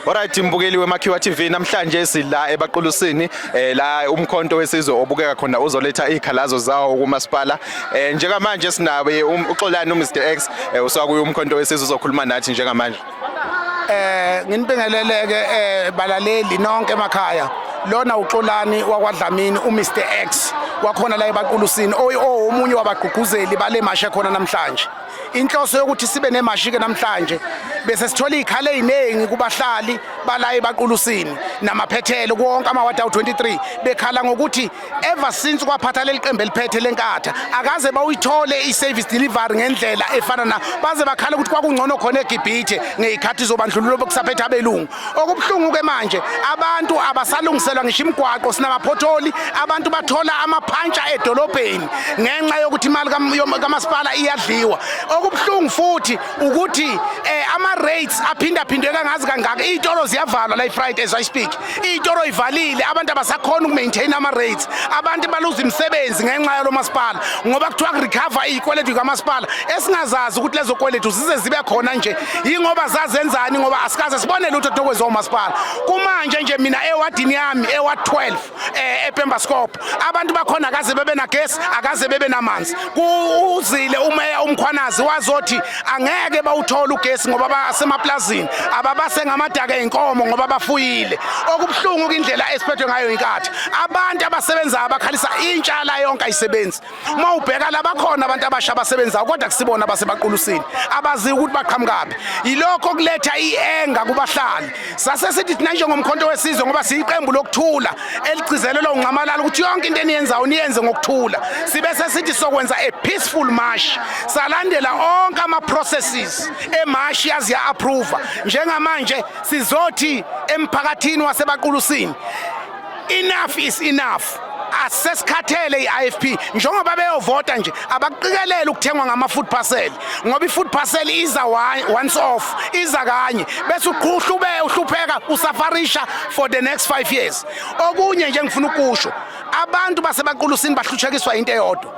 Alright mbukeli weMakhiwa TV namhlanje sila ebaqulusini eh, la umkhonto wesizwe obukeka khona uzoletha izikhalazo zawo kumasipala eh, njengamanje sinabe um, uXolani uMr X eh, usakuye umkhonto wesizwe uzokhuluma nathi njengamanje eh nginibingeleleke eh balaleli nonke emakhaya lona uXolani wakwaDlamini uMr X wakhona la ebaqulusini omunye wabagqugquzeli bale mashe khona namhlanje inhloso yokuthi sibe nemashi-ke namhlanje bese sithola iy'khala ey'ningi kubahlali bala ebaqulusini namaphethelo kuwonke amawadi awu-23 bekhala ngokuthi ever since kwaphatha leli qembu eliphethe lenkatha akaze bawuyithole i-service delivery ngendlela efana na baze bakhala ukuthi kwakungcono khona egibhithe ngey'khathi zobandlululo bokusaphetha abelungu Okubuhlungu ke manje abantu abasalungiselwa ngisho imigwaqo sinamaphotholi abantu bathola amaphantsha edolobheni ngenxa yokuthi imali kamasipala iyadliwa okubuhlungu futhi ukuthi eh, ama rates aphinda phindwe kangazi kangaka izitolo ziyavalwa la iFriday as I speak izitolo ivalile abantu abasakhona ukumaintain ama rates abantu baluza imisebenzi ngenxa yalo masipala ngoba kuthiwa kurecover izikweletu kamasipala esingazazi ukuthi lezo kweletu zize zibe khona nje yingoba zazenzani ngoba asikaze sibone lutho tokwenziwa umasipala kumanje nje mina ewadini yami ewa 12 eh ePemba Scope abantu bakhona akaze bebe na gas akaze bebe namanzi kuzile umeya umkhwanazi wazothi angeke bawuthola ugesi ngoba basemaplazini ababase ngamadaka enkomo ngoba bafuyile okubuhlungu indlela esiphethwe ngayo inkathi abantu abasebenza abakhalisa intshala yonke ayisebenzi uma ubheka labakhona abantu abasha abasebenzayo kodwa kusibona basebaqulusini abazi ukuthi baqhamukaphi yilokho kuletha ienga kubahlali sase sithi thina njengomkhonto wesizwe ngoba siyiqembu lokuthula eligcizelelwa uncamalala ukuthi yonke into eniyenzayo niyenze ngokuthula sibe sesithi sokwenza a peaceful march salandela onke ama processes emarch yazi ya approve njengamanje sizothi emphakathini wasebaqulusini enough is enough asesikhathele i-IFP njengoba beyovota nje abaqikelele ukuthengwa ngama-food parcel ngoba i-food parcel iza once off iza kanye bese uqhuhlube uhlupheka usafarisha for the next five years okunye nje ngifuna ukusho abantu basebaqulusini bahlutshekiswa into eyodwa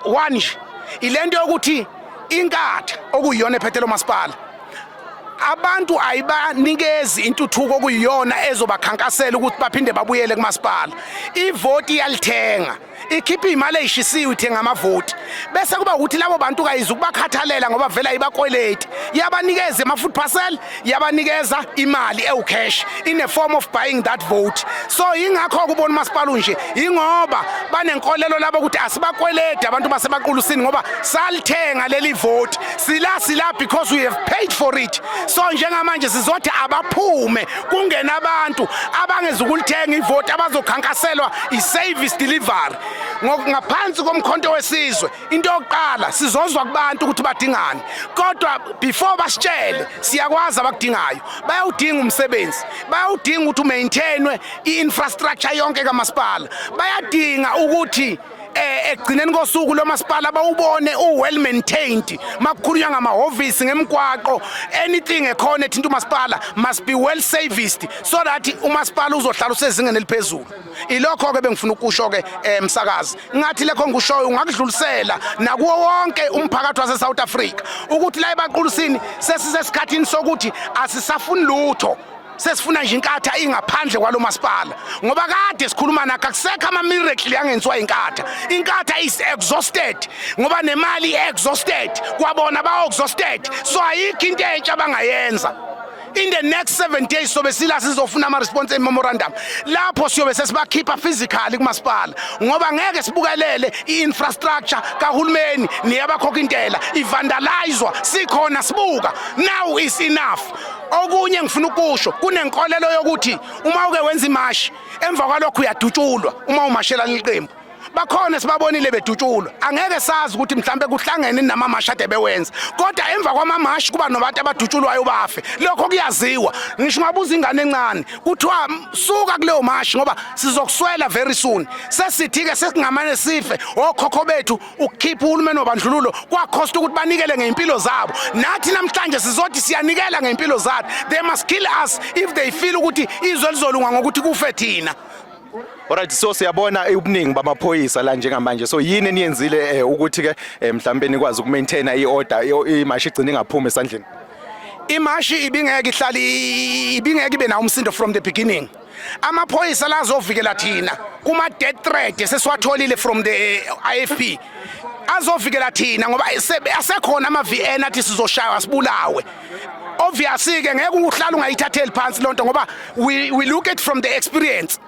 one nje ile nto yokuthi inkatha okuyiyona ephethe lo masipala abantu ayibanikezi intuthuko okuyiyona ezobakhankasela ukuthi baphinde babuyele kumasipala ivoti iyalithenga ikhipha imali eyishisiwe ithenga amavoti bese kuba ukuthi labo bantu kayiza ukubakhathalela ngoba vela ibakweleti yabanikeza ama-food parcel yabanikeza imali ewucash in a form of buying that vote so yingakho kubona umasipala unje yingoba banenkolelo labo ukuthi asibakweledi abantu basebaqulusini ngoba salithenga leli voti sila sila because we have paid for it so njengamanje sizothi abaphume kungena abantu abangezukulithenga ivoti abazokhankaselwa i-service delivery ngaphansi komkhonto wesizwe into yokuqala sizozwa kubantu ukuthi badingani kodwa before basitshele siyakwazi abakudingayo bayawudinga umsebenzi bayawudinga ukuthi umaintainwe i-infrastructure yonke kamasipala bayadinga ukuthi eh ekugcineni kosuku lomasipala bawubone u well maintained makukhulunywa ngamahhovisi ngemgwaqo anything ekhona ethinta umasipala must be well serviced so that umasipala uzohlala usezingeni eliphezulu ilokho ke bengifuna ukusho ke emsakazi eh, ngathi lekho ngikushoyo ungakudlulisela nakuwo wonke umphakathi wase South Africa ukuthi la ebaqulusini sesisesikhathini sokuthi asisafuni lutho sesifuna nje inkatha ingaphandle kwalo masipala ngoba kade sikhuluma nakho akusekho ama-miracle angenziwa inkatha inkatha is exhausted ngoba nemali i-exhausted kwabona ba-exhausted so ayikho into entsha abangayenza in the next seven days sobe sila sizofuna ama-response ememorandum lapho siyobe sesibakhipha physically kumasipala ngoba ngeke sibukelele i-infrastructure kahulumeni neyabakhokha intela ivandalizwa sikhona sibuka now is enough okunye engifuna ukusho kunenkolelo yokuthi uma uke wenza imashi emva kwalokho uyadutshulwa uma umashela liqembu bakhona sibabonile bedutshulwa angeke sazi ukuthi mhlambe kuhlangene namamashi ade bewenza kodwa emva kwamamashi kuba nobantu abadutshulwayo bafe lokho kuyaziwa ngisho ungabuza ingane encane kuthiwa suka kuleyo mashi ngoba sizokuswela very soon sesithi-ke sesingamane sife okhokho bethu ukukhipha uhulumeni wabandlululo kwakhosta ukuthi banikele ngey'mpilo zabo nathi namhlanje sizothi siyanikela ngey'mpilo zathi they must kill us if they feel ukuthi izwe lizolunga ngokuthi kufe thina Alright so siyabona ubuningi bamaphoyisa la njengamanje so yini eniyenzile eh, ukuthi ke eh, mhlawumbe nikwazi ukumaintain iorder imashi igcine ingaphumi esandleni imashi ibingeke ihlali ibingeke ibe nawo umsindo from the beginning amaphoyisa lazovikela thina kuma death threat sesiwatholile from the eh, IFP azovikela thina ngoba asekhona ama VN athi sizoshaywa sibulawe obviously ke ngeke uhlala ungayithatheli phansi lonto ngoba we, we look it from the experience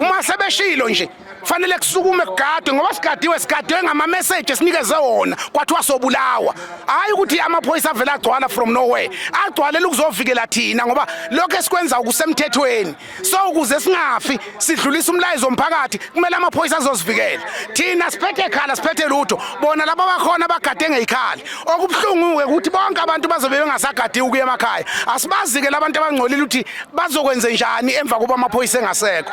uma sebeshilo nje fanele kusukume kugadwe ngoba sigadiwe sigadwe ngamameseji esinikeze wona kwathiwa sobulawa hhayi ukuthi amaphoyisa avele agcwala from nowhere agcwalele ukuzovikela thina ngoba lokho esikwenza ukusemthethweni so ukuze singafi sidlulisa umlayezo omphakathi kumele amaphoyisa azozivikela thina siphethe ekhala siphethe lutho bona laba bakhona bagade ngeyikhali okubuhlungu-ke ukuthi bonke abantu bazobe bengasagadiwe ukuya emakhaya asibazi-ke labantu abangcolile ukuthi bazokwenze njani emva kokuba amaphoyisa engasekho